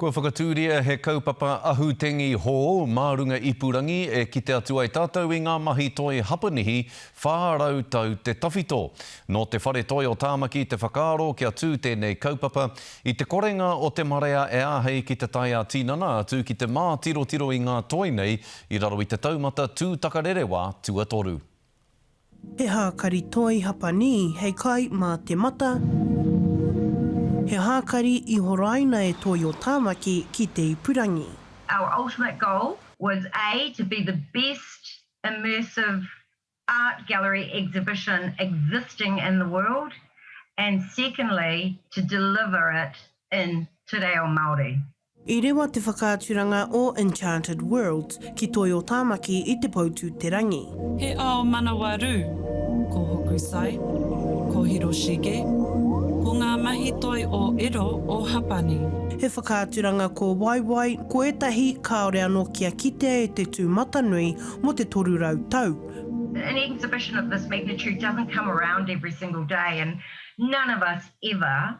Kua whakatūria he kaupapa ahu tengi hou mā runga ipurangi e kite atu ai tātou i ngā mahi toi Hapanihi 400 tau te tawhito. Nō te Whare Toi o Tāmaki te whakaaro kia tū tēnei kaupapa i te korenga o te marea e āhei ki te tae ā-tinana atu ki te mātirotiro i ngā toi nei i raro i te taumata tūtakarerewa tuatoru. He hākari toi Hapanī hei kai mā te mata, he hākari i horaina e Toi o Tāmaki ki te ipurangi. Our ultimate goal was a to be the best immersive art gallery exhibition existing in the world and secondly to deliver it in te reo Māori. I rewa te whakaaturanga o Enchanted Worlds ki Toi o Tāmaki i Te Poutū-te-rangi. He ao manawa rū, ko Hokusai, ko Hiroshige, ko ngā mahi toi o Edo o Hapani. He whakaaturanga kōwaiwai, ko ētahi kāore anō kia kitea e te tūmatanui mō te 300 tau. An exhibition of this magnitude doesn't come around every single day and none of us ever.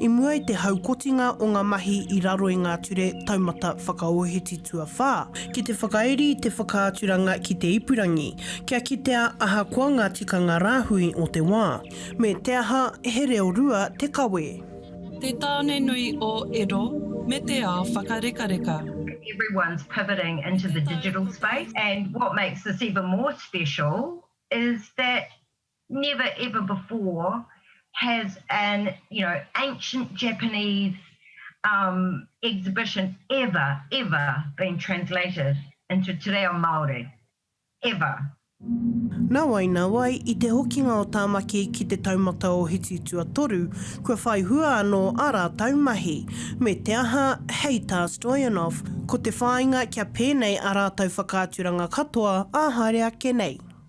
I mua i te haukotinga o ngā mahi i raro i ngā Ture Taumata Whakaōhiti Tuawhā, ki te whakairi i te whakaaturanga ki te ipurangi, kia kitea ahakoa ngā tikanga rāhui o te wā, me te aha, he reo rua te kawe. Te Tāne Nui o Edo me te Ao Whakarekareka. Everyone's pivoting into the digital space and what makes this even more special is that Never ever before has an you know ancient Japanese um exhibition ever ever been translated into te reo Māori. Ever. Nāwai, nāwai, i te hokinga o Tāmaki ki te taumata o Hiti Tuatoru, kua whai hua anō ā rātou mahi. Me te aha, hei tā Stoyanov, ko te whāinga kia pēnei ā rātou whakaaturanga katoa ā haere ake nei.